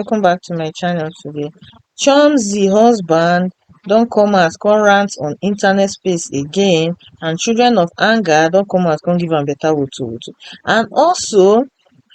welcome back to my channel today chomzy husband don come out come rant on internet space again and children of anger don come out come give am better woto woto and also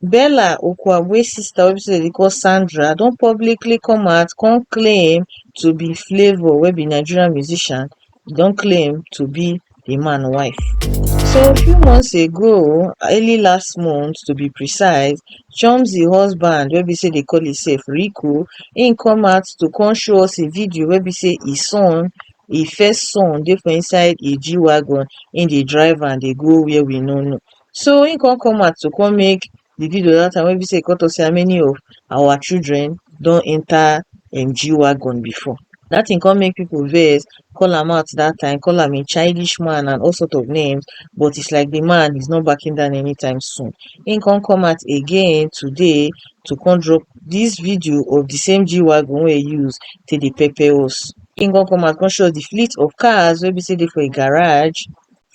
bella okwagwe sister wey be say dem dey call sandra don publicly come out come claim to be flavour wey be nigerian musician e don claim to be di man wife. So few months ago, early last month to be precise, Chomzy husband wey be say dey call himself Rico, im come out to come show us a video wey be say his son, his first son dey for inside a G-Wagon, im dey drive am dey go where we no know. So im come come out to come make di video dat time wey be sey e come talk sey how many of our children don enter um G wagon before, dat thing come make people vex, call am out dat time, call am a childish man and all sort of names, but is like di man is not backing down anytime soon. Im come come out again today to come drop dis video of di same G wagon wey e use take dey pepper us. Im come come out come show us di fleet of cars wey be sey dey for im garage.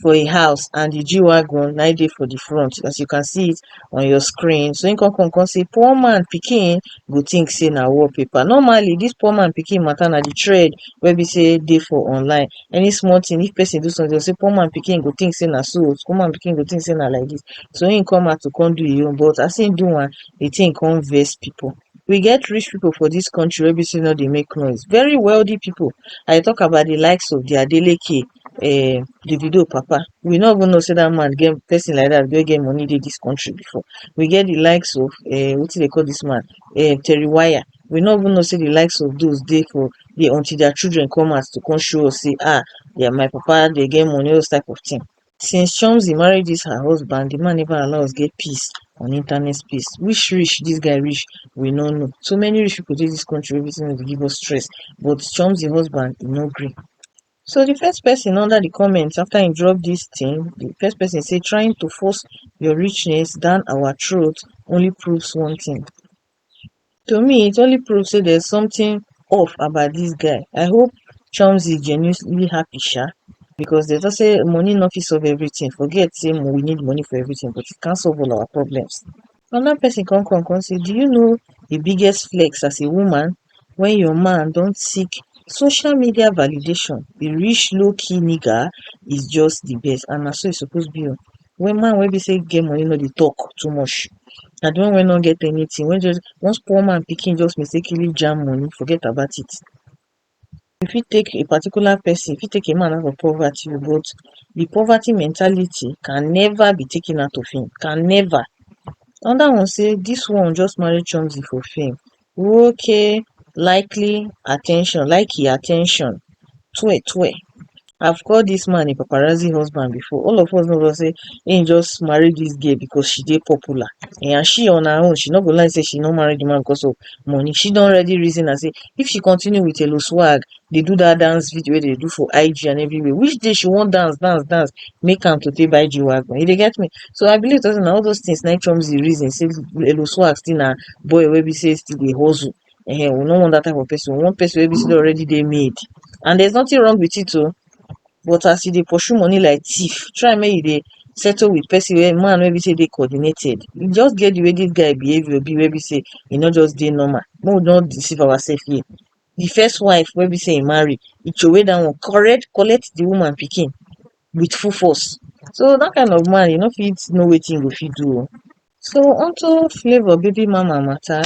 for e house and di g-wagon na im dey for di front as you can see it on your screen so im come come come say poor man pikin go think say na wall paper normally dis poor man pikin matter na di thread wey be say dey for online any small thing if person do something dem go say poor man pikin go think say na so oh, poor man pikin go think say na like dis so im come out to come do im own but as im do am di thing come vex people we get rich people for dis country wey be sey no dey make noise, very wealthy people I dey talk about the likes of their Adeleke um Davido papa we no even know sey dat man get person like dat wey get money dey dis country before we get the likes of um wetin dem dey call dis man um Terry wire we no even know sey the likes of those dey for here until their children come out to come show us sey um my papa dem get money all those type of thing since chomzy marry dis her husband di man neva allow us get peace on internet space which rich dis guy rich we no know so many rich pipo dey dis kontri wey be say dem dey give us stress but chomzy husband e no gree so di first pesin under di comment afta im drop dis tin di first pesin say trying to force your richness down our throat only proves one tin to me it only prove say there's something off about this guy i hope chomzy genuinely happy sha because they just say money no fit solve everything forget say we need money for everything but it can't solve all our problems another person come come come say do you know the biggest flex as a woman when your man don't seek social media validation the rich low-key nigga is just the best and na so e suppose be o Wen man wey be sey im get money no dey talk too much, na di one wey no get anything wey just once poor man pikin just mistakenly jam money forget about it. You fit take a particular person, you fit take a man out of poverty but di poverty mentality can never be taken out of him, can never. Another one sey dis one just marry chomzy for fame, Nwoke likely attention like e attention twe twe I've called this man a paparazzi husband before all of us know just say he just marry this girl because she dey popular eh, and she on her own she no go like say she no marry the man because of money she don already reason am say if she continue with Elo swag dey do that dance video wey dey do for IG and everywhere which day she wan dance dance dance make am to take buy G-Wagon you dey get me so I believe say na all those things na Trump dey reason say Elo Swag still na boy wey be say still dey hustle um we no want that type of person we want person wey be say already dey made and there's nothing wrong with it o but as you dey pursue money like thief try make you dey settle with person wey man wey be say dey coordinated e just get the way this guy behaviour be wey be say e no just dey normal make we no deceive ourselves here the first wife wey be sey e marry, e throwey that one correct collect the woman pikin with full force. So that kind of man e no fit know wetin e go fit do o. So onto flavour baby mama matter,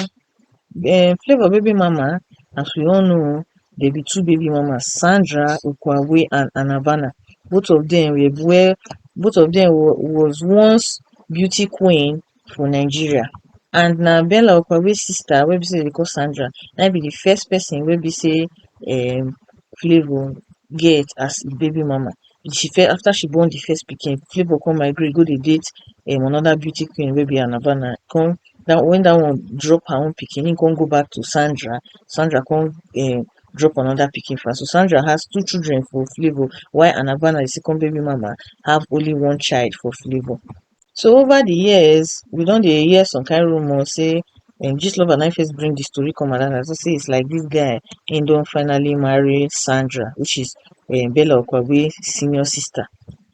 um flavour baby mama as we all know dem be two baby mamas Sandra Ugwuagwe and Anabana both of dem were where both of dem was once beauty queen for nigeria and na bella okabe sister wey be sey dem dey call Sandra na im be the first person wey be sey um favour get as im baby mama she first after she born the first pikin favour come migrate go dey date um another beauty queen wey be Anna Bana e come that one when that one drop her own pikin him come go back to Sandra Sandra come um drop another pikin for am so Sandra has two children for favour while Anna Bana the second baby mama have only one child for favour So over di years we don dey hear some kain rumor sey um Gistlover na im first bring di story come around as if sey is like dis guy im don finally marry Sandra which is um Bella Okagbue senior sister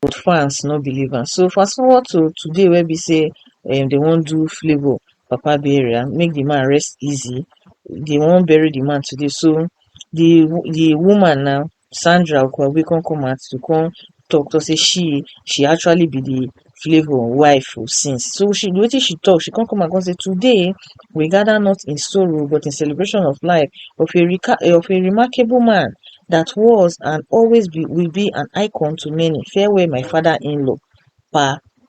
but fans no believe am. So fast forward to today wey be sey um dey wan do Flavour papa burial make di man rest easy, dey wan bury di man today so di di woman now sandra ukwabe come come out to come talk talk say she she actually be the flavour wife o since so she wetin she talk she come come out come say today we gather not in sorrow but in celebration of life of a recar of a remarkable man that was and always be will be an icon to many farewell my father inlaw pa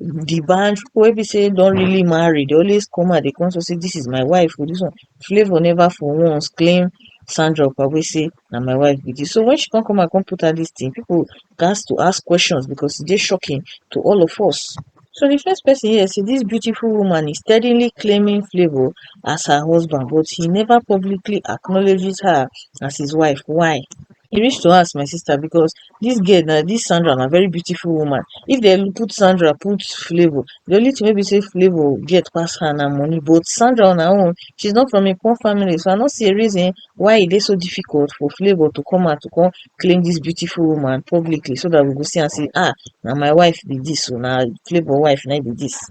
the band wey be say don really marry dey always come out dey come talk say this is my wife oo this one flavor never for once claim Sandra Okagbue say na my wife be this so when she come come out come put out this thing people gats to ask questions because e dey shocking to all of us so the first person here say this beautiful woman is steadily claiming flavor as her husband but he never publicly acknowledges her as his wife why e reach to ask my sister because Dis girl na, dis Sandra na very beautiful woman. If dem put Sandra, put Flavour, the only thing wey be say Flavour get pass her na money. But Sandra on her own, she's not from a poor family, so I no see a reason why e dey so difficult for Flavour to come out to come claim this beautiful woman publicly so that we go see am say ah na my wife be this o, na Flavour wife na im be this.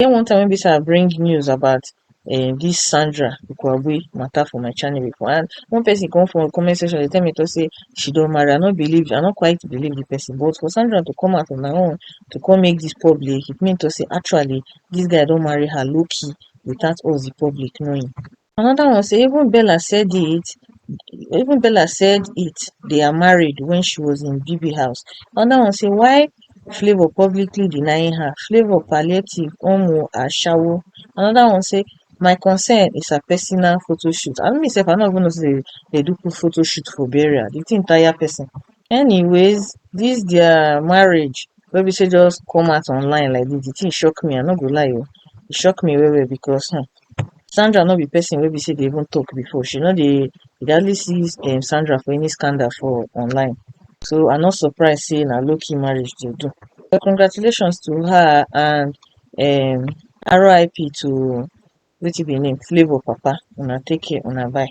E get one time wey be sey I bring news about um dis Sandra Ugwuagui matter for my channel before and one person come for comment section dey tell me talk sey she don marry, I no believe, I no quite believe de person but for Sandra to come out on her own to come make dis public, it mean to sey actually dis guy don marry her low key without us de public knowing. anoda one say even bella said it even bella said it they are married wen she was in bebe house anoda one say why flavour publicly denying her flavour palliative own o ashawo anoda one say my concern is her personal photoshoot abi me sef i no even know say dem do photoshoot for burial di tin tire pesin anyways dis dia marriage wey be say just come out online like dis di tin shock me i no go lie o e shock me well well becos um Sandra no be person wey be sey dey even talk before, she no dey, you dey hardly see Sandra for any scandal for online, so I no surprise sey na low key marriage she dey do, but congratulations to her and um RIP to Wetin be e name, Flavour papa, una take care, una bye.